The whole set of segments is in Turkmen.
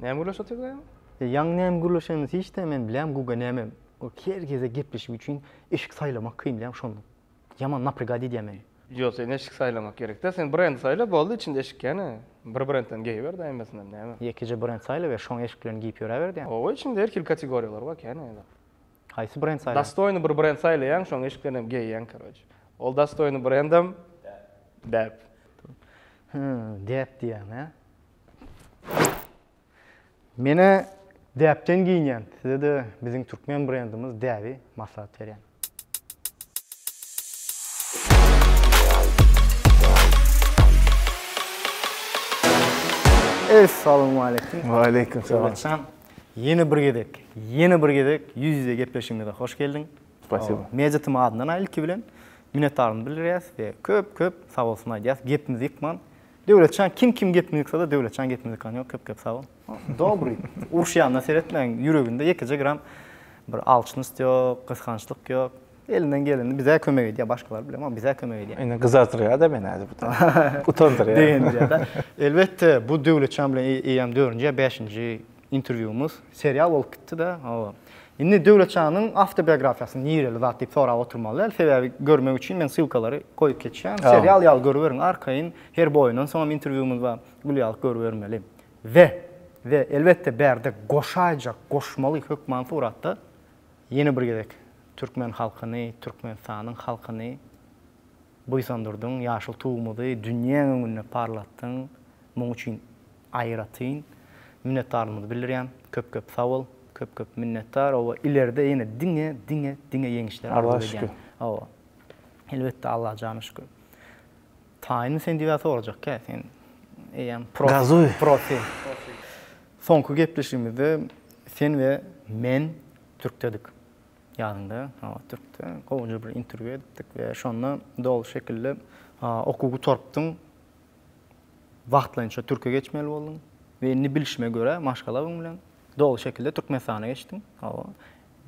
Näme gürleşip otyrdyk aýam? E, ýaňy näme gürleşenimizi hiç-de men bilýän, Guga näme? O her gezek gepleşik üçin eşik saýlamak kyn diýýän şonda. Ýaman naprygad edýär meni. Ýok, sen eşik saýlamak gerek-dä. Sen brendi saýla, boldy, içinde eşik ýene. Bir brendden geýiber daýy emmesinden, näme? Ýekeje brend saýlaber, şoň eşiklerini geýip ýöräber diýýän. Oba, içinde her hili kategoriýalar bar kän-ä ýa-da. Haýsy brend saýlaň? Dostoýny bir brend saýlaýaň, şoň eşiklerini hem geýýäň, karoçe. Ol dostoýny brendem däp. Hä, däp diýýäň, hä? Menä däpden geýinýän, size-de biziň türkmen brendimiz däbi maslahat berýän. Essalawmaleýkim. Waleýkim salam. Döwletjan, ýene bir gezek, ýene bir gezek ýüz-ýüze gepleşigimize hoş geldiň. Spasibo. Media TM adyndan-a ilki bilen minnetdarlygymy bildirýäs we köp-köp sag bolsun aýdýas. Gepimizi ýykman, Döwletjan kim kim gepini ýyksada Döwletjan gepini ýykan ýok köp köp sag bol. Dobry. Uruşýanyna seretmäň ýüreginde ýekeje gram bir alçnyst ýok, gysgançlyk ýok. Elinden geleni bizä kömek edýä başgalar bilemok bizä kömek edýä. Indi gyzardyrýada meni hade bu da. Utandyrýa. Begendirýada. Elbetde bu Döwletjan bilen eýýäm dördünji ýa bäşinji Interwýumyz serial bolup gitdi-de, hawa. Indi Döwletjanyň awtobiografiýasyny nireli zat diýip sorap oturmaly däl, sebäbi görmek üçin men ssylkalary goýup geçýän. Serial ýaly görüberiň, arkaýyn her boýundan soňam interwýumyz bar, gül ýaly görübermeli. We, we elbetde bärde goşaýjak, goşmaly hökman suratda ýene bir gezek türkmen halkyny, Türkmenistanyň halkyny Buýsandyrdyň ýaşyl Tugumyzy dünýäň öňünde parlatdyň, muň üçin aýratyn minnetdarlygymyzy bildirýän, köp köp sag bol, köp köp minnetdar, oba ileride ýene diňe diňe diňe ýeňişler arzuw edýän, oba elbetde Allaha jana şükür. Taýynmy sen diýip sorajak kä sen eýýäm profi. Soňky gepleşigimizde sen we men türkdedik. Ýadymda, hawa, Türkde gowja bir interwýu edipdik we şonda doly şekilde okuw gutarypdyň, wagtlaýynça türke geçmeli bolduň we indi bilşime görä, maşgalaň bilen doly şekilde Türkmenistana geçdiň, hawa.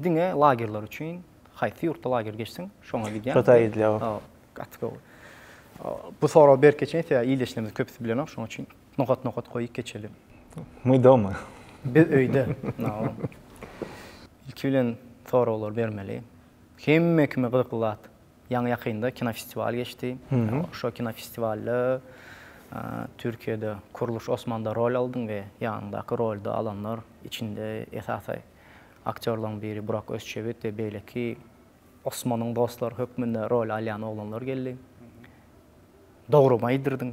Diňe lagerler üçin, haýsy ýurtda lager geçseň, şoňa gidýäň. Hytaý gidilýär. Hawa, gaty gowy. Bu soragy berke çensi ýa ildeşlerimiziň köpüsi bilenok, şonuň üçin. Nokat nokat goýup geçelim. Мы дома. Biz öýde. Naom. Ilki bilen soraglary bermeli. Hemme kime gyzykly zat. Ýaňy ýakynda kinofestiwal geçdi. Şo kinofestiwalda Türkiýede Kurluş Osmanda rol aldyň we ýanyňdaky rolda alanlar içinde esasy aktýorlaň biri Burak Özçewit we beýleki Osmanyň dostlary hökmünde rol alýan oglanlar geldi. Dogrymy aýdyrdyň.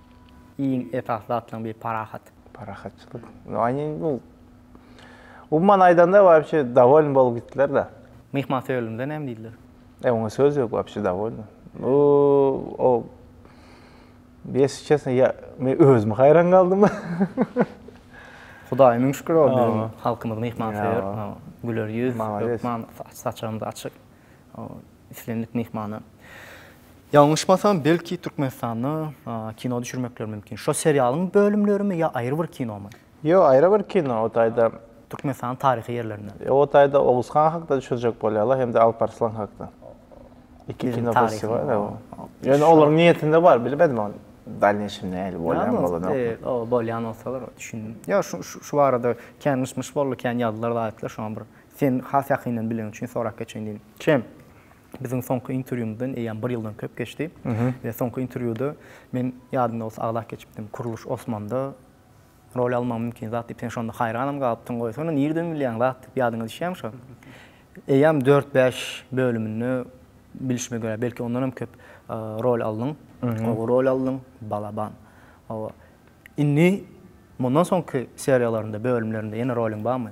Iň esasly zatlaryň biri parahat. Parahatçylyk. Umuman aýdanda wapşe dowoln bolup gitdiler-de. Myhman söýerlimize näme diýdiler? E oňa söz ýok wapşe dowoln. Bu o ýesi çesne ýa men özüm haýran galdym. Hudaýa müň şükür o biziň halkymyz myhmansöýer, güler ýüz, hökman saçagymyz açyk. islendik myhmana. Ýalňyşmasam, belki Türkmenistanda kino düşürmekleri mümkin. Şo serialyň bölümlerimi ýa aýry bir kinomy? Ýok, aýry bir kino. O taýda. Türkmenistanyň taryhy ýerlerinden. Ýok, o taýda Oguz han hakda düşürjek bolýarlar hem-de Alp Arslan hakda. Iki kino festiwal. Ýöne olaryň niýetinde bar, bilmedim ony. Dalneýşim nähili bolýan bolanok. Bolýan bolsalar düşündim. Ýa şu barada kän myş-myş boldy, kän ýazdylar, aýtdylar, şoňa bir Seni has ýakyndan bileniň üçin sorap geçeýin diýdim. Çem, biziň soňky interwýumyzdan eýýäm bir ýyldan köp geçdi we soňky interwýuda men, ýadyňda bolsa, aglap geçipdim, Kuruluş Osmanda rol almagyň mümkin zat diýip, sen şonda haýranam galypdyň, goýsana, nireden bilýäň zat diýip, ýadyňa düşýärmi şo? Eýýäm dört-bäş bölüminde, bilşime görä, belki ondanam köp rol aldyň, gowy rol aldyň, balaban. Hawa, indi mundan soňky seriýalarynda, bölümlerinde ýene roluň barmy?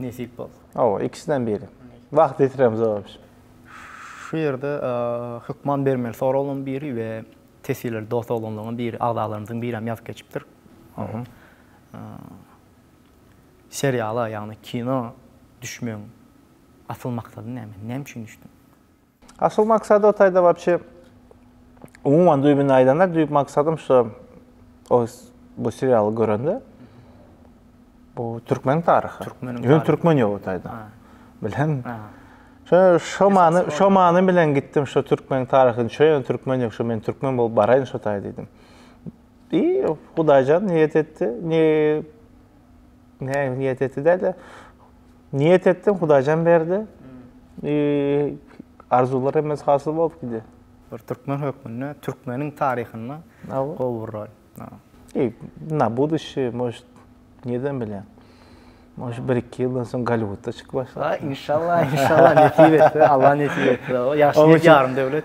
Nesip bolsa. Hawa, ikisinden biri. Wagt ýetiremz oba biz. Şu ýerde hökman bermeli soraglaryň biri we teswirleri dost oglanlaryň biri, agzalarymyzyň biri hem ýazyp geçipdir. Seriala, ýagny kino düşmegiň asyl maksady näme? Näme üçin düşdüň? Asyl maksady o taýda wapşe umuman düýbüni aýdanda düýp maksadym şu o bu serialy görende bu türkmen taryhy. Türkmen. Ýöne türkmen ýok o taýda. Bilen. Şo şo many şo many bilen gitdim şo türkmen taryhyny çöýen türkmen ýok şo men türkmen bolup baraýyn şo taýda diýdim. Diý, Hudaýjan niýet etdi. Ne Ne niyet etti de de. Niyet ettim, Hudaýjan berdi. Eee, arzuwlar hemmesi hasyl bolup gidi. Bir türkmen hökmünde, türkmeniň taryhynda Aw. gowy bir rol. Aw. Eee, na buduşi, mož, nirden bilýän. Mož bir iki ýyldan soň Gollywudda çykyp başlar. Aý, inşallah, inşallah, nesip etse, Allah nesip etse. Ýagşy Oň niýet, üçin- ýarym döwlet.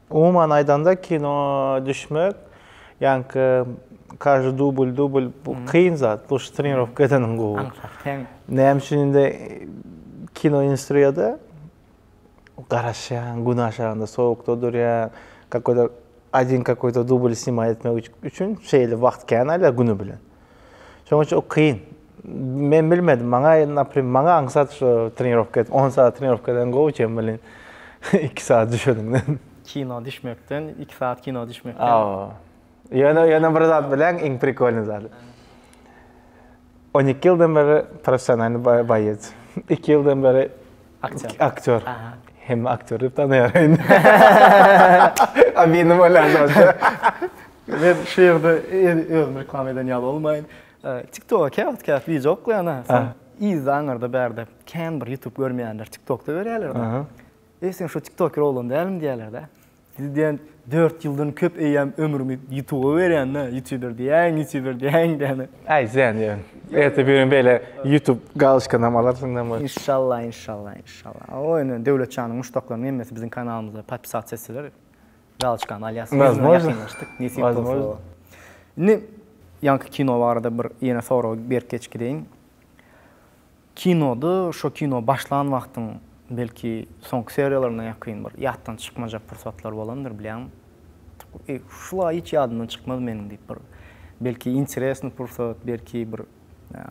Umuman aýdanda kino düşmek ýaňky każdy dubl dubl bu kyn zat bu trenirowka edeniň gowy. Näme üçin indi kino industriýada garaşýaň gün aşagynda sowukda durýaň kakoýda один kakoýda dubl snimat etmek üçin şeýle wagt kän alýar güni bilen. Şonuň üçin o kyn. Men bilmedim, maňa naprim, maňa aňsat şu trenirowka et, 10 saat trenirowka eden gowy çen welin, 2 saat düşeniňden. Kino düşmekden, 2 saat kino düşmekden. Hawa. Ýöne, ýöne bir zat bileň, iň prikolnyý zady. On iki ýyldan beri professionalnyý boýeç. Iki ýyldan beri Aktýor. Aktýor. Hemme aktýor diýip tanaýar indi. A benim bolanda. Men şu ýerde özümi reklama eden ýaly bolmaýyn. TikTok-a käwagt käp wideo ýoklanýa. Yzda aňyrda bärde kän bir YouTube görmeýänler TikTok-da görýärler. Eý sen şu TikToker oglan dälmi diýýärler-de. Siz diýen dört ýyldan köp eýýäm ömrüňi ýutuba berýäňdä, ýutuber diýäň, ýutuber diýäň däne. Äý sen ýöne. Ertir bir gün beýle ýutub galuşkanam alarsyň name. Inşallah inşallah inşallah. O ýöne Döwlet janyň muşdaklarynyň hemmesi biziň kanalymyza podpisat etseler galuşkany alýas. Ýüz müňe ýakynlaşdyk nesip bolsa. Indi ýaňky kino barada bir ýene soragy berk geçgireýin. Kinoda şo kino başlan wagtyň belki soňky seriýalaryna ýakyn bir ýatdan çykmajak pursatlar bolandyr bilýäňmi? Eý, şula hiç ýadymdan çykmaz meniň diýip bir belki interesny pursat, belki bir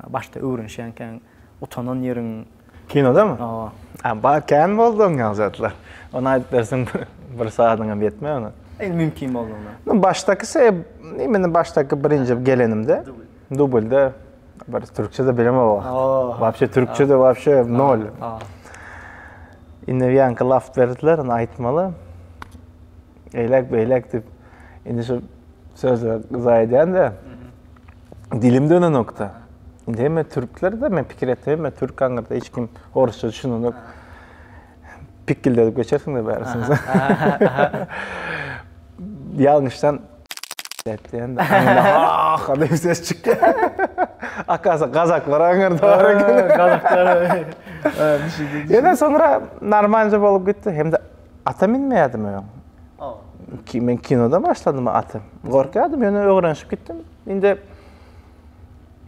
başda öwrenişýänkäň utanan ýeriň. Kinodamy? Hawa. A bar kän boldy oň ýaly zatlar. Ony aýdyp bersem bir sagadyňam ýetmez ony. Mümkin boldugyna. Başdaky sebäp, imini başdaky birinji gelenimde. Dublde bir türkçe de bilemem o. Wapşe türkçe de wapşe nol. Indi ýaňky laf berdiler, ony aýtmaly. Eýlek beýlek diýip, indi şu sözler zaýa edýän-de. Dilim dönenokda. Indi hemme türkler de men pikir etdim, hemme türk aňyrda hiç kim orusça düşünenok. pikildedip geçersiňiz bärisiniz. Ýalňyşdan diýende, ah, diýip ses çykýar. Akasa gazaklar aňyrda bar eken. Gazaklar. Ýöne soňra normalja bolup gitdi. Hem-de ata minmeýärdim öň. Men kinoda başladym ata. Gorkýardym, ýöne öwrenişip gitdim. Indi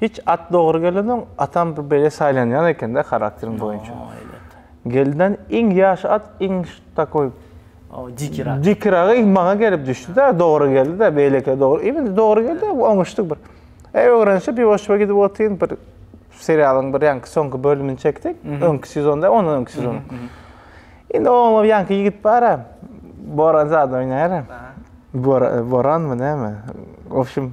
Hiç at dogry gelensoň atam bir bele saýlanýan ekende harakterin boýunça. Gelden iň ýaş at iň takoý dikirak. Dikirak iň maňa gelip düşdi-de, dogry geldi-de, beýlekilere dogry. Indi dogry geldi, oňuşdy bir. Eý öwrenişip bir oçba gidip otyryn bir serialyň bir ýaňky soňky bölümini çekdik. Öňki sezon däl, ondan öňki sezon. Indi oňa ýaňky ýigit bar-a, Boran zat oýnaýar-a. Boranmy näme? Wobşem,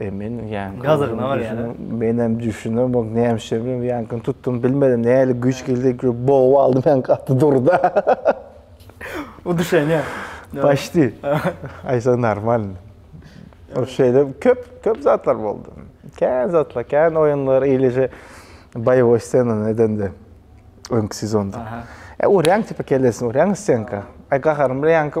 Men ýaňky menem düşünemok nämişe bilen ýaňkyny tutdum bilmedim nähili güýç geldi bogup aldym ýaňky gaty durda. Udyşenýa. Paşti. Aýtsaň normal. Şeýle köp köp zatlar boldy. Kän zatlar, kän oýunlar eýleje boýowy ssenany edende öňki sezonda. Urýaň tipa kellesine urýaň stenka. Aý gaharym bilen ýaňky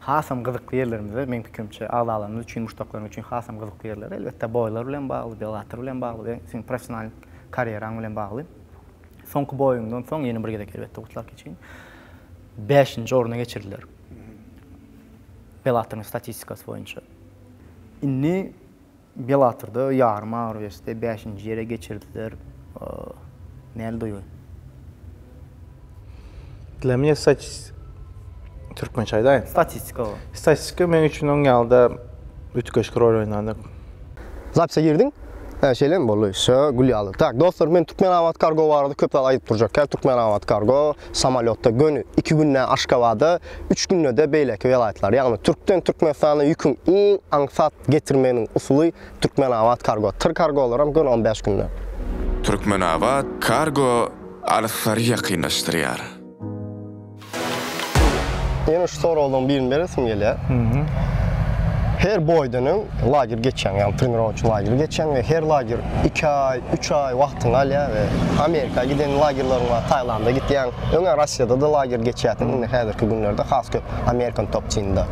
Hasam gyzykly ýerlerimizde, meň pikirimçe, agzalarymyz üçin, muşdaklaryň üçin hasam gyzykly ýerler, elbetde, boýlar bilen bagly, Bellator bilen bagly we seniň professional karýeraň bilen bagly. Soňky boýuňdan soň ýene bir gezek, elbetde, gutlag geçiň. Bäşinji orna geçirdiler Bellatoryň statistikasy boýunça. Indi Bellatorda ýarym agyr weste bäşinji ýere geçirdiler. Näl duýgy? Dla mňe statis türkmençe aýdaýyn. Statistika bu. Statistika men üçin oň ýaly-da üýtgeşik rol oýnady. Zapise girdiň? Hä, şeýlemi? Boldy. Şa, gül ýaly. Tak, dostlar, men Türkmenabat Kargo barada köp zat aýdyp durjak. Kä Türkmenabat Kargo. Samolýotda göni iki günde Aşgabada, üç günde-de beýleki welaýatlara, ýagny Türkden Türkmenistana ýüküň iň aňsat getirmeginiň usuly Türkmenabat Kargo, Tyr Kargolaram göni on bäş günde. Türkmenabat Kargo alystlary ýakynlaşdyrýar. Ýene şu soraglaryň birini beresim gelýär. Her boýdan öň lager geçýäň, ýagny trenirowçy lageri geçýäň we her lager iki aý, Üç aý wagtyňy alýar we Amerika giden lagerleriň bar, Taýlanda gitýäň. Öňe Russiýada-da lager geçýärsiň, indi häzirki günlerde has köp American Top Team-de.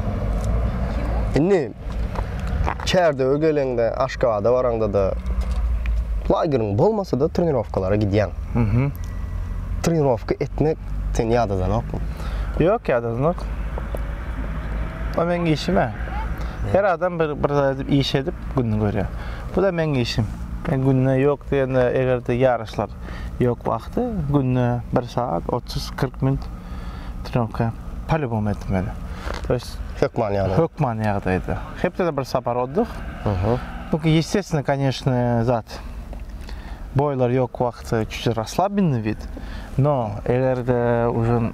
Indi Kärdöwe geleňde, Aşgabada baraňda-da lageriň bolmasa-da trenirowkalara gidýäň. Trenirowka etmek seni ýadadanokmy? Ýok, ýadadanok. Ol meniň işim-ä. Her adam bir zat edip, iş edip gününi görýär. Bu-da meň işim. Men günde ýok diýende, eger-de ýaryşlar ýok wagty, günde bir sagat otuz-kyrk minut trenirka polýubom etmeli. To ýest, Hökman ýagdaýda. hökman ýagdaýda. Hepdede bir sapar oddych. Bu ýestesnýi, koneşne, zat. Boýlar ýok wagty çüş raslabinnyý vid. No, eger-de uje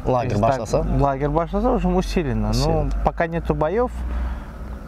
Lager başlasa? lager başlasa, uje usilenno. No, poka netu boýow.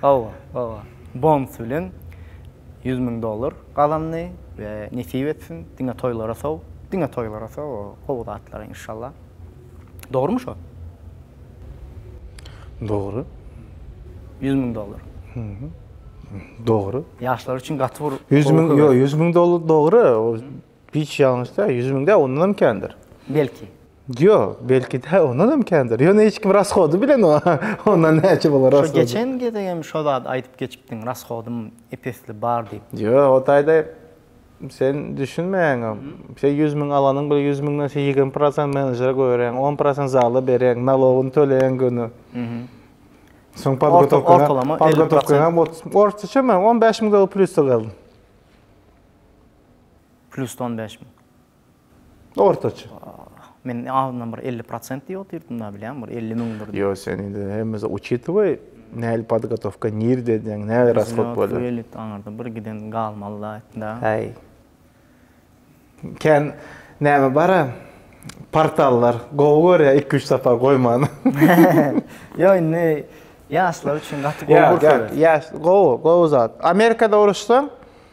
Hawa, hawa. Bonus bilen ýüz müň dollar gazandy we nesip etsin, diňe toýlara sow, diňe toýlara sow o gowy zatlara inşallah. Dogrumy şo? Dogry. Ýüz müň dollar. Dogry. Ýaşlar üçin gaty bir Ýüz müň, ýok, ýüz müň dollar dogry. Hiç ýalňyş däl, ýüz müň däl, ondanam kändir. Belki. Ýok, belki däl, ondanam kändir. Ýöne hiç kim rashody bilen o, ondan näçe bolar rashody. Şu geçen gezek hem şo zady aýdyp geçipdiň, rashodym ep-esli bar diýip. Ýok, o taýda sen düşünmeýäňow. Sen ýüz müň alanyň bilen ýüz müňden sen ýigrimi prosent menejere goýberýäň, on prosent zala berýäň, nalogyny töleýäň göni. Soň podgotowkaňa, podgotowkaňam otuz, ortaça men on bäş müň dollar plusda galdym. Plusda on bäş müň. Ortaça. Men azyndan bir elli prosent diýip otyrdym da bilýän bir elli müňdir. Ýok, sen indi hemmesi uçitoway nähili podgotowka nirde edýäň, nähili rashlod bolýar. Zlýot, wylit aňyrda bir giden galmaly zat da. Häý. Kän näme bara portallar gowy görýär iki üç sapar goýmany. Ýok indi ýaşlar üçin gaty gowy pursat. Ýok ýok ýaş gowy gowy zat. Amerikada uruşsaň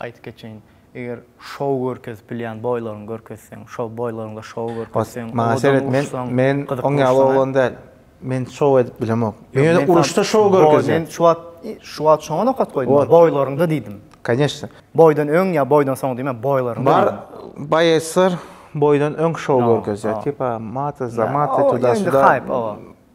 Aýdyp geçeýin, eger şou görkezip bilýän boýlaryňy görkezseň, şou boýlaryňda şou görkezseň, Maňa owadan seret, men, uruşsaň, men gyzyk oň ýaly uruşsaň-a. oglan däl. Men şou edip bilemok. Men ýöne Ýok, uruşda şou Boý, görkezýän. men şu wagt, i, şu wagt şoňa nokat goýdum, Ot. boýlaryňda diýdim. Конечно. Boýdan öň ýa boýdan soň diýmän, boýlaryňda Bar diýdim. boýaçlar boýdan öň şou Ýa, görkezýär. ýa. Tipa, mata, zamata, Ýa, o, tuda, ýa indi suda. haýp, owa.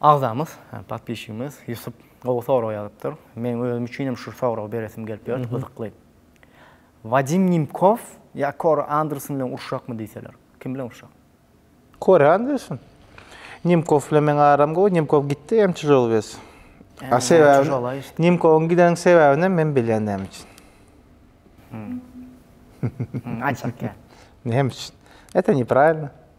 Agzamyz, podpisçigimiz Ýusup gowy sorag ýazypdyr. Meň özüm üçin hem şu soragy beresim gelip ýördi, gyzykly. Wadim Nimkow ýa Kori Anderson bilen urşakmy diýseler, kim bilen urşak? Kori Anderson. Nimkow bilen meň aram gowy, Nimkow gitdi hem çyjaly biz. A sebäbini, Nimkowyň gideniň sebäbini hem men bilýän näme üçin. Aýtsak ýa. Näme üçin? Ete nepravilno.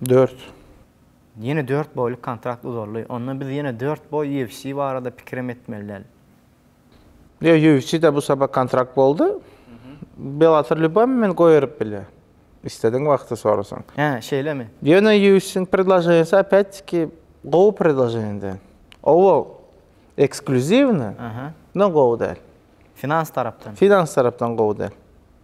Dört. Ýene dört boýluk kontrakt uzaldy. Onda biz ýene dört boý UFC barada pikirem etmeli däl. Ýok, UFC-de bu sapak kontrakt boldy. Bellator lýuboý moment goýberyp bilýär. Islediň wagty sorasaň. Hä, şeýlemi? Ýöne UFC-niň predloženiýasy opet-tiki gowy predloženiýa däl. Owal eksklýuziwny, ondan gowy däl. Finans tarapdan. Finans tarapdan gowy däl.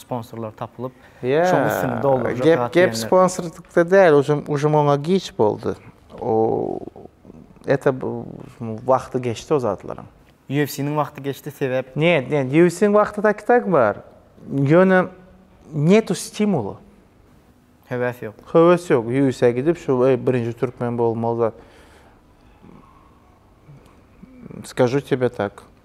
sponsorlar tapylyp, şoň üstüni doldurjak zat diýenler. Gep sponsorlykda däl, ujum oňa giç boldy. O ete wagty geçdi o zatlaryň. UFC-niň wagty geçdi sebäp? Njet, njet, UFC-niň wagty taky tak bar. Ýöne njetu stimula. Höwes ýok. Höwes ýok. UFC-a gidip şu birinji türkmen bolmaly zat. Skažu tebe tak.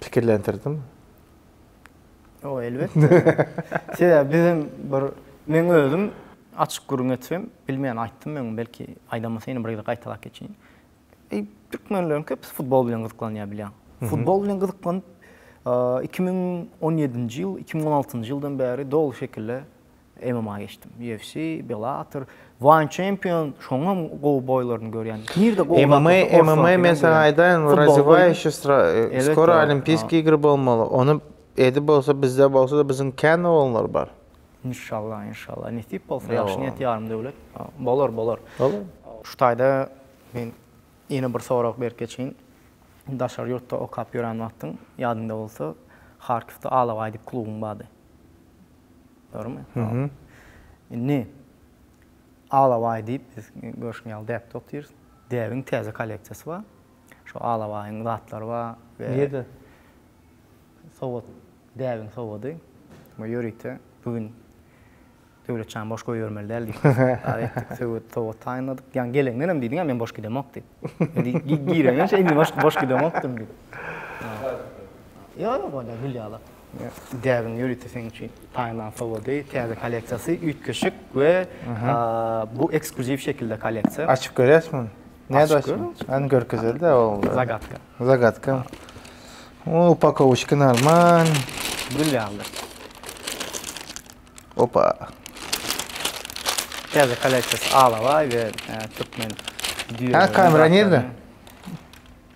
Pikirlendirdim. O elbetde. Sebäbi bizem bir men özüm açyk gürrüň etsem, bilmeýän aýtdym men, belki aýdamasyn ýene bir gezek gaýtalap geçeýin. Eý, türkmenleriň köpüsi futbol bilen gyzyklanýar bilýäň. Futbol bilen gyzyklanyp, iki müň on ýedinji ýyl, iki müň on altynjy ýyldan bäri doly şekilde MMA geçdim. UFC, Bellator, One Champion, şoňam gowy boýlaryny görýän. Nirde gowy zat bolsa, orus MMA, MMA men saňa aýdaýyn, razywayş, skoro olimpiýskiý ýigri bolmaly, ony edip bolsa bizde bolsa-da biziň kän oglanlar bar. Inşallah, inşallah, nesip bolsa, ýagşy niýet ýarym döwlet. Bolar, bolar. Şu taýda men ýene bir sorag berip geçeýin. Daşary ýurtda okap ýören wagtyň ýadyňda bolsa, Harkiwde Alabaý diýip klubyň bardy. Dogrumy? Indi Alabaý diýip biz görşüň ýaly däpde otyrys. Däbiň täze kolleksiýasy bar. Şu Alabaýyň zatlary bar. Nirede? Sowat, däbiň sowady. Bu ýörite bu gün Döwletjan boş goýbermeli däl diýip karar etdik. Söwet, sowat taýynladyk. Ýa geleňden hem diýdiň-ä men boş gidemok diýip. Gireniňçe indi boş gidemokdym diýip. Ýok, ýok onda gül ýaly. Däbiň ýörite seň üçin taýynlan sowgady, täze kolleksiýasy, üýtgeşik we bu ekskluziw şekilde kolleksiýa. Açyp görýäs muny. Näde açyp? Hany görkezeli-de ogul. Zagatka. Zagatka. O, upakowuşka normal. Gül ýaly. Opa. Täze kolleksiýasy alabaý we türkmen düýeleri. Ha, kamera nirde?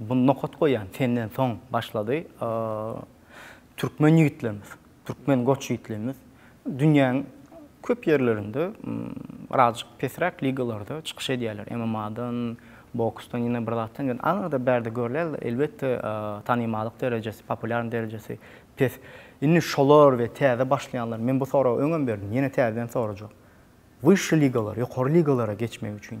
Bu nokat goýan senden soň başlady. Türkmen ýigitlerimiz, türkmen goç ýigitlerimiz dünýäň köp ýerlerinde birazajyk pesräk ligalarda çykyş edýärler. MMA-dan, boksdan, ýene bir zatdan ýöne aňyrda bärde görülýärler. Elbetde, tanymallyk derejesi, populýarnyk derejesi pes. Indi şolar we täze başlaýanlar, men bu soragy öňem berdim, ýene täzeden sorajak. Wyşşy ligalar, ýokary ligalara geçmek üçin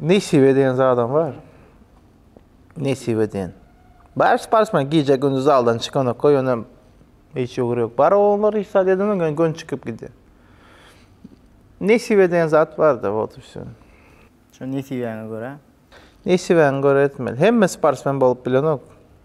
Nesibe diýen zadam bar. Nesibe diýen. Bars bars men gije gündüz zaldan çykanok ýöne hiç ugur ýok. Bar oňlar hiç zat edemok ýöne gön çykyp gidýär. Nesibe diýen zat barda wot üstü. Şu nesibäňe görä. Nesibäňe görä etmeli. Hemme sportsmen bolup bilenok.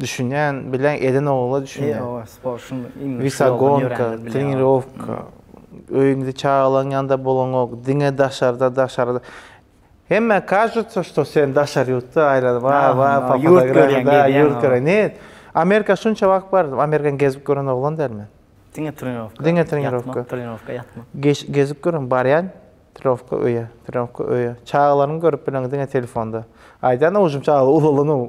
Düşünýän, bilýän eden ogla düşünýän. Ýoga, sport şum iň. Wisagonka, trenirowka. Öýüňde çagalaň ýanynda bolaňok, diňe daşarda, daşarda. Hemmä кажется, что sen daşary ýurtda aýlanyp, wa wa pa fotografiýada ýurt görýän. Ne? Amerika şunça wagt bardym, Amerikany gezip gören oglan däl men. Diňe trenirowka. Diňe trenirowka. Trenirowka ýatmak. Gezip gören barýan trenirowka öýe, trenirowka öýe. Çagalaryňy görüp bileňok diňe telefonda. Aýdan owjum çagalar ulalan ow.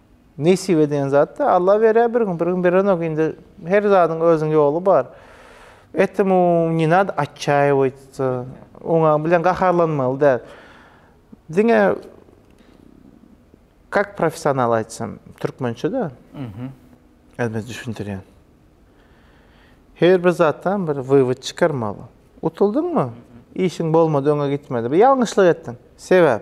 Nesibe diýen zat da Alla berýär bir gün, bir gün berenok. Indi her zadyň özüniň ýoly bar. Etemu ne nad atçaýewoýtsa, oňa bilen gaharlanmaly däl. Diňe kak professional aýtsam, türkmençe de. Mhm. Özüme düşündirýän. Her bir zatdan bir wywod çykarmaly. Utuldyňmy? Işiň bolmady, öňe gitmedi. Bir ýalňyşlyk etdiň. Sebäp?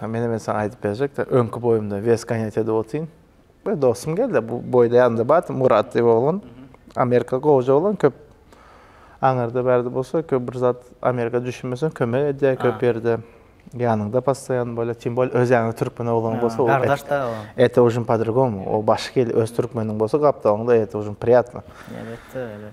Hä, menä men saňa aýdyp berjekde, öňki boýumda wes ganýat edip otyryn. Bir dostum geldi, bu boýda ýanymda bardy, Murat diýip oglan. Amerika gowja oglan, köp aňyrda bärde bolsa, köp bir zat Amerika düşünmeseň kömek edýär köp ýerde. Ýanyňda postoýan bolýar, tim bolýar öz ýanyňda türkmen oglany bolsa, gardaşda o. Ete ujin po-drugomu, o başga il, öz türkmeniň bolsa gapdalyňda ete ujin priýatno. Elbetde, elbetde.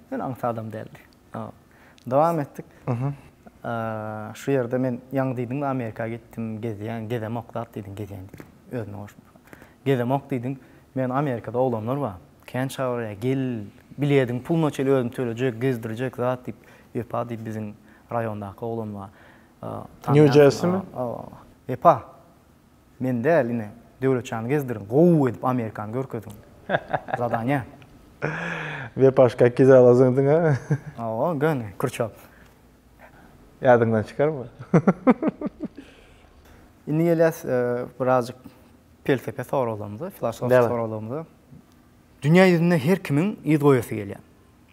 Men aňsat adam däldi. Dowam etdik. Şu ýerde men ýaňy diýdiňmi Amerika gitdim, gezýän, gezemok zat diýdiň, gezýän diýdiň. Özüne goşup. Gezemok diýdiň. Men Amerikada oglanlar bar. Kän çagyrýar, gel, bilediň puluny çenli özüm tölejek, gezdirjek zat diýip. Wepa diýip biziň raýondaky oglan bar. Nýu-Jersimi? Wepa. Men däl ine Döwletjany gezdiriň gowy edip Amerikany görkeziň. Zadanya. Wepaş kakki zala zyňdyň a. Hawa göni kürçap. Ýadyňdan çykarma. Indi gelýäs birazjyk pelsepe soraglarymyza, filosofik soraglarymyza. Dünýä ýüzünde her kimiň yz goýasy gelýär.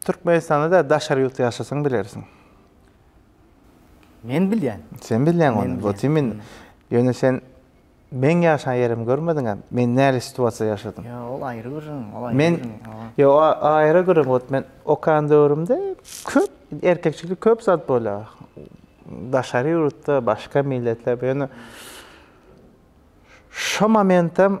Türkmenistanda däl daşary ýurtda ýaşasaň bilersiň. Men bilýän. Sen bilýäň ony. Wot imin. Ýöne sen meň ýaşan ýerimi görmediňä. Men näli situasiýada ýaşadym. Ýa ol aýry gürrüň, ol aýry gürrüň. Men ýo a aýry gürrüň. Wot men okan döwrümde köp erkekçilik köp zat bolýa. Daşary ýurtda başga milletler ýöne şo momentem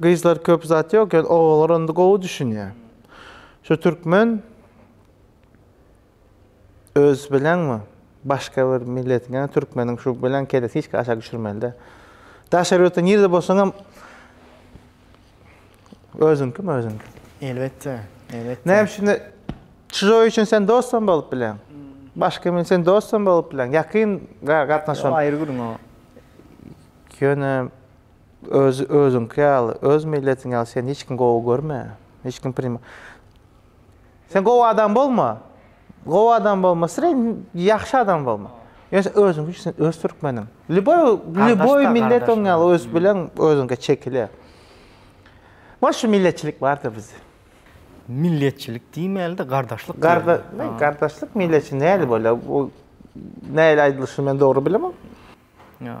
Gyzlar köp zat yok ýöne ogallar onda gowy düşünýä. Şu türkmen öz bilenmi başga bir milletiň ýa türkmeniň şu bilen kellesi hiç aşak düşürmelide. Daşary ýurtda nirde bolsaňam özüňkimi özüňki. Elbetde. Elbetde. Näme üçin çyjoý üçin sen dostam bolup bilen. Başga men sen dostam bolup bilen. Ýakyn gatnaşan. Aýry gürüň o. Ýöne Özi özüňki ýaly, öz milletiň ýaly seni hiç kim gowy görme. Hiç kim prim. Sen gowy adam bolma. Gowy adam bolma, sen ýagşy adam bolma. Ýöne sen özüňki üçin sen öz türkmeniň. Lýuboý lýuboý millet oň ýaly ösüp bilen özüňke çekile. Bar şu milletçilik bar-da bizde. Milletçilik diýmeli-de, gardaşlyk diýeli. Garda gardaşlyk milletçi näli bolýar? Bu näli aýdylyşyny men dogry bilemok. Ýa.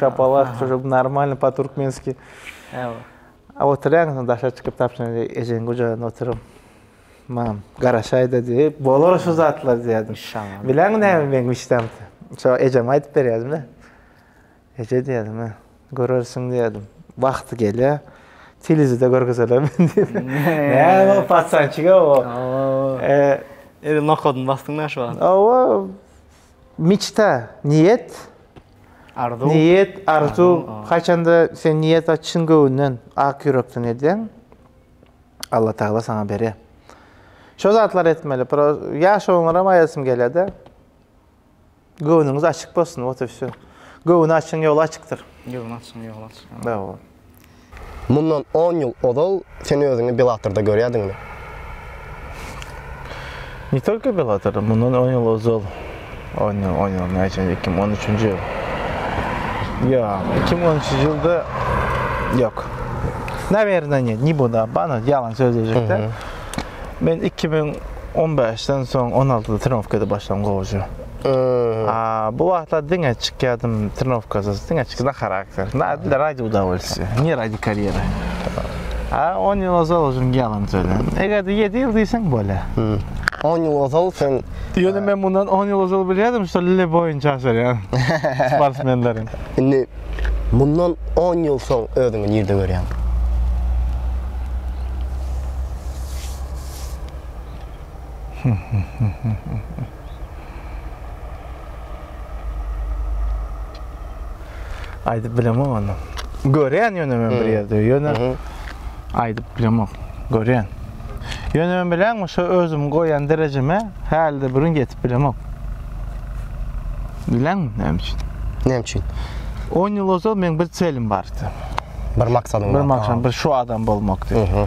Şapalat şu şup normalny po turkmenski. Ewa. A oturýaň sen daşa çykyp tapşyň ejeň gujagynda oturuň. Mam garaşaýda diýip bolar şu zatlar diýerdim. Şaňa. Bileň näme meň işdem. Şo ejem aýdyp berýärdim de. Eje diýerdim. Görersiň diýerdim. Wagty gelýär. Telizide görgüzelem diýip. Näme o patsançyga o. Eee. Eli nokodun bastyň näşe wagt. Owa. Miçta, niýet. Arzuw. Niýet, arzuw. Haçanda sen niýet çyn göwünden, ak ýürekden edýäň, Alla Tagala saňa berýär. Şo zatlary etmeli. Ýaşagyňyzam aýdasym gelýär-de. Göwnüňiz açyk bolsun, wot i wsýo. Göwni açyň, ýoly açykdyr. Göwni açyň, ýoly açyk. Hawa. Mundan on ýyl ozal sen özüňi Bellator-da görýärdiňmi? Ne tolko Bellator-da, mundan on ýyl ozal, on ýyl, on ýyl, näçe, iki müň on üçünji ýyl, ýok, iki müň on üçünji ýylda, ýok, nawerdenýe, ne buda, bana ýalan sözlejek-dä, men iki müň on bäşden soň on altyda trenirowka edip başladym gowaja. Bu wagtlar diňe çykýadym trenowkasyz, diňe çykýan charakter. Na dile raýdy udawolsiýa, ne raýdy karýera. A 10 ýyl ozal özüm ýalan söýlen. Eger-de 7 ýyl diýseň bolýa. 10 ýyl ozal sen... Ýöne men mundan 10 ýyl ozal bilýärdim, şu lile boýunça aşarýan sportsmenlerin. Indi mundan 10 ýyl soň özüňi nirde görýäň? Aýdyp bilemok ony. Görýän ýöne men bir ýerde, ýöne aýdyp bilemok. Görýän. Ýöne men bileňmi, şu özüm goýan derejeme hälde bir gün ýetip bilemok. Bileňmi näme üçin? Näme üçin? 10 ýyl ozal meň bir çelim bardy. Bir maksadym bardy. Bir maksat, bir şu adam bolmak diýip.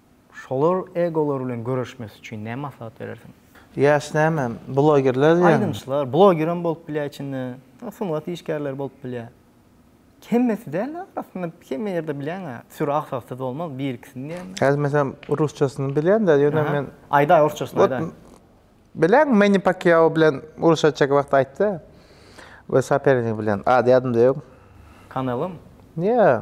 Şolar egolar bilen göreşmesi üçin näme maslahat berersiň? Ýaş näme, blogerler diýýäňmi? Aýdymçylar, blogerem bolup bilýär içinde, sungat işgärleri bolup bilýär. Hemmesi däl, arasynda hemme ýerde bilýäň-ä, süri aksaksyz bolmaz, bir-ikisini diýýän. Häzir meselem rusçasyny bilýän-dä, ýöne men. Aýdaý, rusçasyny aýdaý. Bilýäňmi, Menni Pakýao bilen uruş açjak wagty aýtdy, öz sopernigi bilen, ady ýadymda ýok. Kanelomy? Ýa.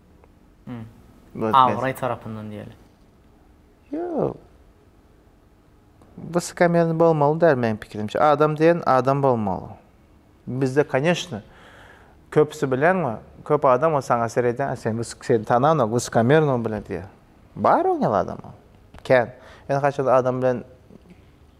Abraý tarapyndan diýeli. Ýok. Wysokamiýerni bolmaly däl meniň pikirimçe. Adam diýen adam bolmaly. Bizde koneşni köpüsi bilenmi? Köp adam o saňa seredýär, sen wysok seni tananok, wysokamiýerno bile diýýär. Bar oňýal adam o. Kän. Ýöne haçanda adam bilen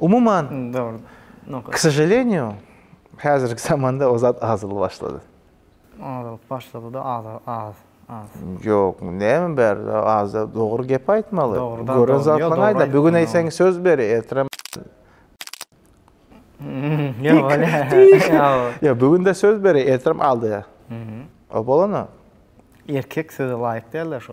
Umuman, k sožalenýu, häzirki zamanda o zat azalyp başlady. Azalyp başlady-da, az, az, az. Ýok, näme bar, az-da dogry gep aýtmaly. Gören zatlaryňy aýt-a, bu gün eýseň söz ber, ertirem, Ýa, bu gün-de söz ber, ertirem aldy. O bolany. Erkek söze laýyk däl-de şo.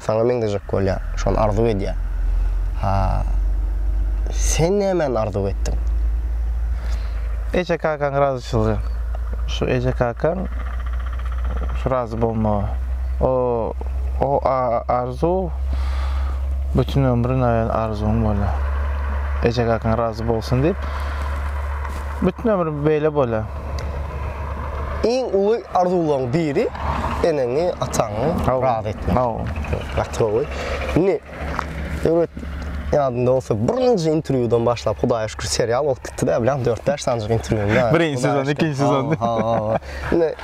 Saňa meňzejek bolýar. Şony arzuw edýär. Ha, sen nämäni arzuw etdiň? Eje-kakaň razyçylygy. Şu eje-kakaň şu razy bolmagy. O, o arzuw bütin ömrün aýan arzuwyň bolýar. Eje-kakaň razy bolsun diýip, bütin ömrüm beýle bolýar. Iň uly arzuwlaryň biri eneňi, ataňy razy etmek. Hawa. Gaty gowy. Indi döwlet ýadynda bolsa birinji interwýudan başlap Hudaýa şükür serial bolup gitdi-de bilýän dört-bäş sanjyk interwýuny ýa. Birinji sezon, ikinji sezon. Hawa. Indi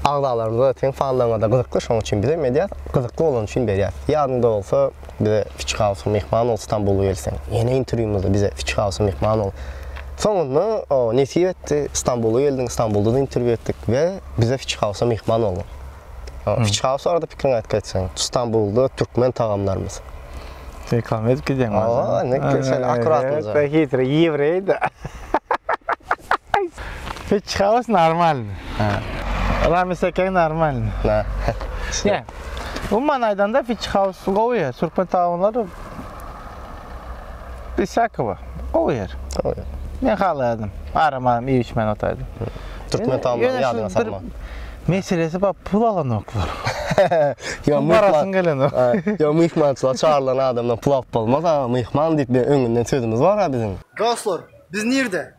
agzalarymyza, seň fanlaryňa-da gyzykly şonuň üçin bizem edýäs. Gyzykly bolany üçin berýäs. Ýadyňda bolsa. bize Fiç Hausa myhman bol Stambula gelseň. Ýene interwýumyzda bize Fiç Hausa myhman bol. Soňunda o nesip etdi, Stambula geldiň, Stambulda-da interwýu etdik we bize Fiç Hausa myhman bol. Fiç Haus barada pikiriňi aýtgy etseň, Stambulda türkmen tagamlarymyz. Reklama edip gidýäň maňa. Hawa, indi sen akkuratnyja. Sen hitre ýewreý-de. Fiç Haus normalny. Hä. Ramiz Ekeň normalny. Hä. Umuman aýdanda Fitch House gowy ýer. Türkmen taunlary Biz Sakowa gowy ýer. Gowy ýer. Men halaýardym. Aram aram iýip içmän otaýdym. Türkmen taunlary ýadyňa salma. Meselesi bar, pul alanoklar. Ýa myhman gelenok. Ýa myhmançylyga çagyrylan adamdan pul alyp bolmaz. Myhman diýip öňünden sözümiz bar-a biziň. Dostlar, biz nirde?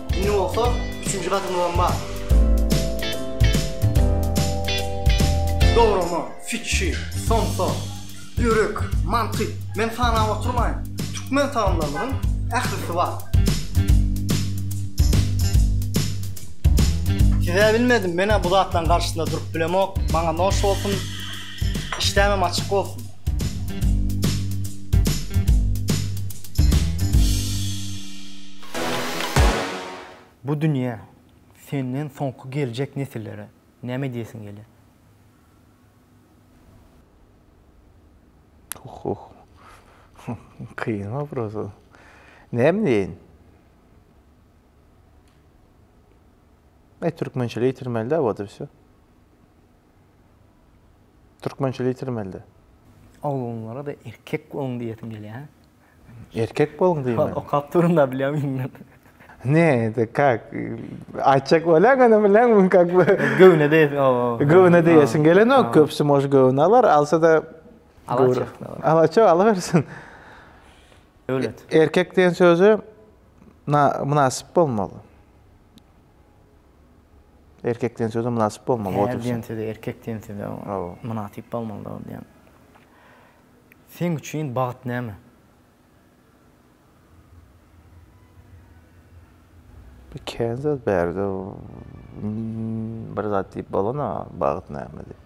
Indi bolsa üçünji gadymyzam bar. Dograma, fikir, somsa, ýürek, mantyk, men sanap oturmaýyn. Türkmen tagamlarynyň ählisi bar. Size bilmedim, men-ä bu zatlaryň garşysynda durup bilemok. Maňa noş bolsun. Işdämem açyk bolsun. Bu dünýä, senden soňky geljek nesillere näme diýesiň gelýär? Huh-huh. Kyn wopros bu. Näme diýeýin? Eý, türkmençe diýtirmeli-dä, wot i wsýo. Türkmençe litirmelde. Oglanlara-da erkek boluň diýesim gelýär. Erkek boluň diýme. Okap durunda bilýän indi. Ne, de kak. Aýtjak bolýan indi bilen bu kak. Göwne de. Göwne de ýesin gelenok. Köpüsi moş göwne alar, alsa da. Alaçak. Alaçak ala bersin. Döwlet. Erkek diýen sözi mynasyp bolmaly. Erkek diýen söze mynasyp bolmaly, Ýa Ýer diýen söze, erkek diýen söze mynasyp bolmalydygy diýýän. Seň üçin bagt näme? Bir kän zat bärde bir zat diýip bolana bagt näme diýip.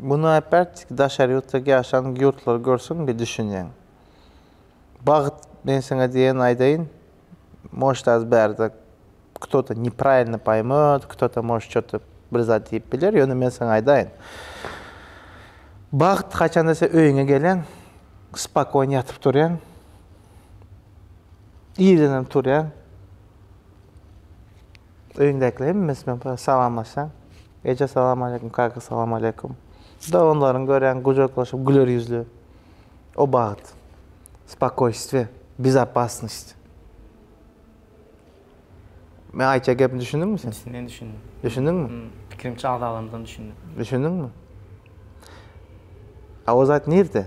Muny äpertdiki daşary ýurtdaky ýaşan ýurtlary görseň bir düşünýäň. Bagt men seňe diýen aýdaýyn moşt az bärde kto-to nepravilno paýmöt kto-to moşt şo-to bir zat diýip biler ýöne men seňe aýdaýyn bagt haçanda sen öýüňe gelýäň spokon ýatyp turýaň irdenem turýaň Öýüňdäkiler hemmesi bilen bir salamlaşaň. Eje salamaleýkum, kaka salamaleýkum. Doganlaryň görýäň gujaklaşyp güler ýüzli. O bagt. Spokoýstwo, bezopasnost. Men aýtýan gepimi düşündiňmi sen? Düşündim, düşündim. Düşündiňmi? Pikirimçe agzalarymyzdan düşündim. Düşündiňmi? A o zat nirde?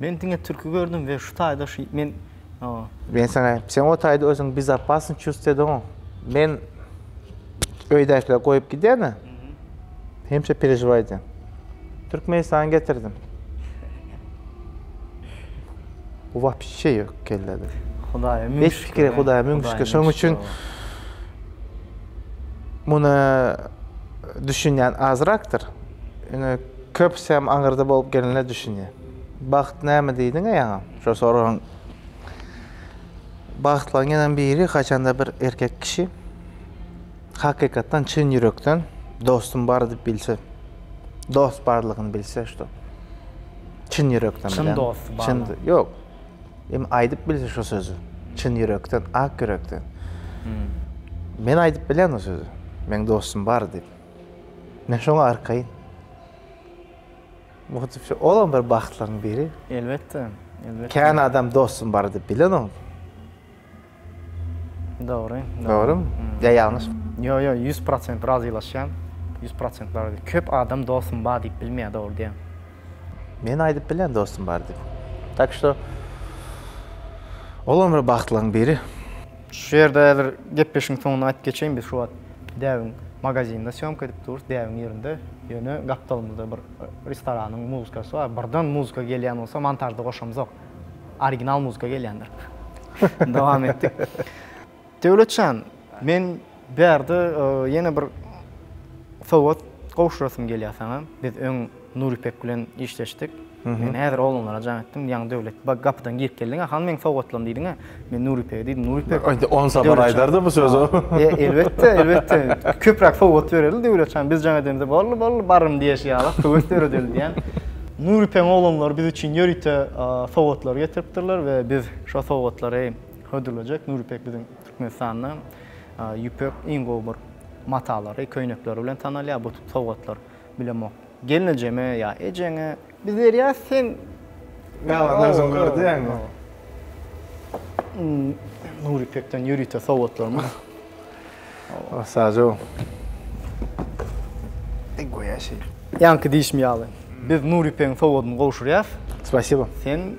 Men diňe türki gördüm we şu taýda şu men o. Men saňa aýdym sen o taýda özüňi bizopasny çust ediňoň. Men öýdäkiler goýup gidene. Hemşe perežiway edýän. Türkmenistan getirdim. Bu wapşe ýok kellede. Hudaýa müň şükür. Hiç pikir Hudaýa müň şükür. Şoň üçin muny düşünýän azrakdyr. Ine köpüsi hem aňyrda bolup gelenler düşünýär. Bagt näme diýdiň-ä ýaňy? Şo soragyň bagtlaryň ýene biri haçanda bir erkek kişi hakykatdan çyn ýürekden dostum bar diýip bilse. Dost barlygyny bilse şo. Çyn ýürekden bilen. Çyn dost bar. Çyn ýok. Em aýdyp bilse şo sözi. Çyn ýürekden, ak ýürekden. Men aýdyp bilýän o sözi. Meň dostum bar diýip. Men şoňa arkaýyn. Muhitçi olam bir bagtlaryň biri. Elbetde, elbetde. Kän adam dostum bar diýip bilenom. Dogry. Dogrymy? Ýa ýalňyş? Ýok, ýok, ýüz prosent razylaşýan. Ýüz prosent razy. Köp adam dostum bar diýip bilmeýä, dogry diýen. Men aýdyp bilýän dostum bar diýip. Tak şto olam bir bagtlaryň biri. Şu ýerde häzir gepleşigiň soňuna aýdyp geçeýin, biz şu wagt däbiň magazinde sýomka edip durus, däbiň ýerinde, ýöne gapdalymyzda bir restoranyň muzykasy bar, birden muzka gelýän bolsa montažda goşamzok, original muzka gelýändir. Dowam etdik. Döwletjan, men. Bärde ýene bir sowgat gowşurasym gelýär saňa. Biz öň Nuripek bilen işleşdik. Men häzir oglanlara jaň etdim. Ýaňy Döwlet bag gapydan girip geldiň-ä, hany meň sowgatlarym diýdiň-ä. Men Nuripege diýdim. Nuripek. Aýt, on sapar aýdar-da bu sözi. E, elbetde, elbetde. Köpräk sowgat bereli Döwlet jan. Biz jaň edemizde, bolly, bolly, barym diýeşi ýaly, söwet döredeli diýen. Nuripegiň oglanlary biz üçin ýörite sowgatlar getiripdirler we biz şo sowgatlary hödürlejek. Nuripek biziň Türkmenistanda ýüpek iň gowy bir matalary, köýnekleri bilen tanalýar, bu sowgatlar bilemok. Gelnejeme ýa ejeňe biz berýäs, sen Ýalan özüň gör diýýäňmi? Nur ýüpekden ýörite sowgatlarymyz. Sažo. Ey goýa şeý. Ýaňky diýşim ýaly, biz Nur ýüpegiň sowgadyny gowşurýas. Spasibo. Sen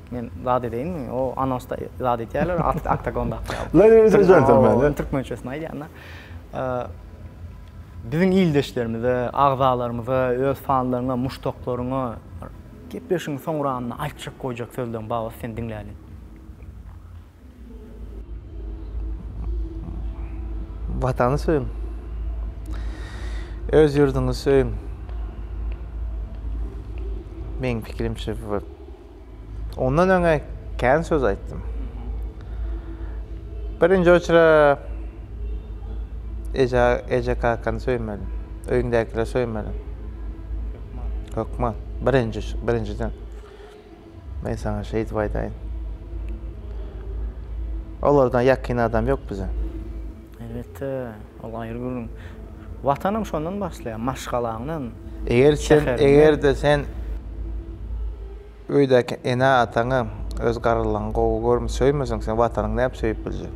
Men zat edeýinmi? O anonsda zat edýärler, oktagonda akýar. Lan ýeri sen jentelmen. Ol türkmençesini aýdýanda. Biziň ildeşlerimize, agzalarymyza, öz fanlaryňa, muşdaklaryňa gepleşigiň soň uramynda aýtjak, goýjak sözleriň bar bolsa seni diňläliň. Watany söýüň. Öz ýurduňyzy söýüň. Meň pikirimçe ondan öňe kän söz aýtdym. Birinji oçra eje eje kakany söýmeli. Öýüňdäkileri söýmeli. Hökman. Birinji birinjiden. Men saňa şeýdip aýdaýyn. Olardan ýakyn adam ýok bize. Elbetde, ol aýry gürrüň. Watanym şondan başlaýar, maşgalaňdan, Eger sen, şäheriňden. eger-de sen öýdäki ene-ataňy, öz garrylaňy gowy görme, söýmeseň, sen Watanyňy nädip söýüp biljek?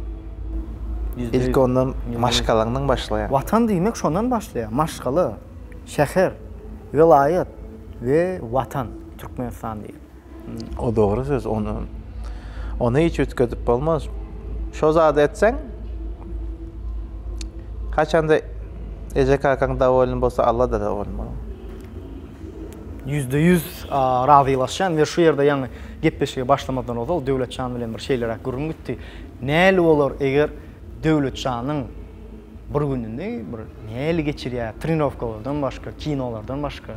Ýüzde ýüz. Ilki ondan Ýüzde ýüz. maşgalaňdan başlaýar. Watan diýmek şondan başlaýar, maşgala, şäher, welaýat we Watan. Türkmenistan diýip. O dogry söz, ony ony hiç üýtgedip bolmaz. Şo zady etseň, haçanda eje kakaň dowolny bolsa, Alla da dowolny bolar. Ýüzde ýüz razylaşýan we şu ýerde ýaňy gepleşige başlamazdan ozal Döwletjan bilen bir şeýleräk gürrüň gitdi. Näli bolar eger Döwletjanyň bir gününi bir näli geçirýär, trenirowkalardan başga, kinolardan başga,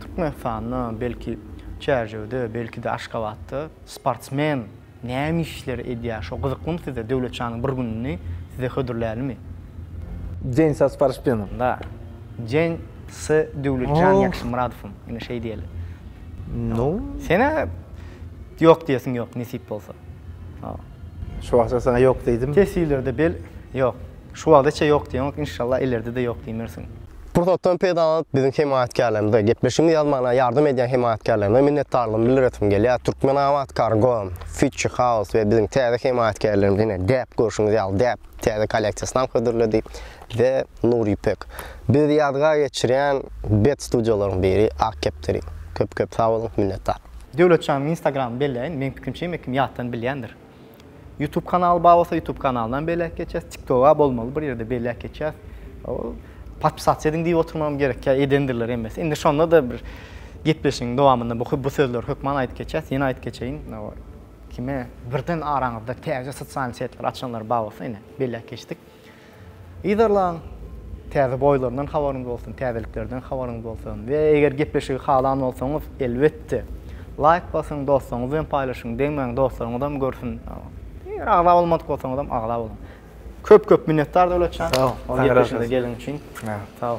Türkmenistanda, belki çärjewde, belki-de Aşgabatda sportsmen näme işleri edýär? Şo gyzyklymy size? Döwletjanyň bir gününi size hödürlälimi? Jeň sa sporspsmeni. Nda. Jeň s Döwletjan Ýakşymyradowym. Ine, şeý diýeli. No. Sen-ä ýok diýesiň ýok, nesip bolsa. Ho. Şu wagta saňa ýok diýdim. Teswirlerde bel, ýok. Şu wagdaça ýok diýeňok, inşallah, ileride-de ýok diýmersiň. Pursatdan peýdalanyp, biziň hemaýatkärlerimize, gepleşigimizi ýazmagyna ýardam edýän hemaýatkärlerimize minnetdarlygymy bildiresim gelýär. Türkmenabatkargo, Fitchi House we biziň täze hemaýatkärlerimiz ine, däp, görşüňiz ýaly, däp täze kolleksiýasyny hödürledi we Nur Ýüpek. Bizi ýadygär geçirýän bet studiýalaryň biri Ak kepderi. Köp-köp sag boluň, minnetdar! Döwletjanyň instagramyny belläýin, meň pikimçe hemme kim ýatdan bilýändir. Youtube kanaly bar bolsa Youtube kanalynam beýläk geçýäs. TikToga bolmaly bir ýerde beýläk geçýäs. Ol podpisat ediň diýip oturmagam gerek. Ýa edendirler hemmesi. Indi şonda-da bir gepleşigiň dowamynda bu bu sözleri hökman aýdyp geçýäs. Ýene aýdyp geçeýin. Kime birden araňyzda täze sosial setleri açanlar bar bolsa ine beýläk geçdik. Yzarlaň! Täze boýlaryndan habaryňyz bolsun, täzeliklerden habaryňyz bolsun we eger gepleşigi halan bolsaňyz, elbetde, laýk basyň, dostlaryňyz bilen paýlaşyň, degmäň, dostlaryňyzam görsün. Eger agza bolmadyk bolsaňyzam, agza boluň. Köp-köp minnetdar Döwletjan, bu gepleşige geleniň üçin. Sag bol.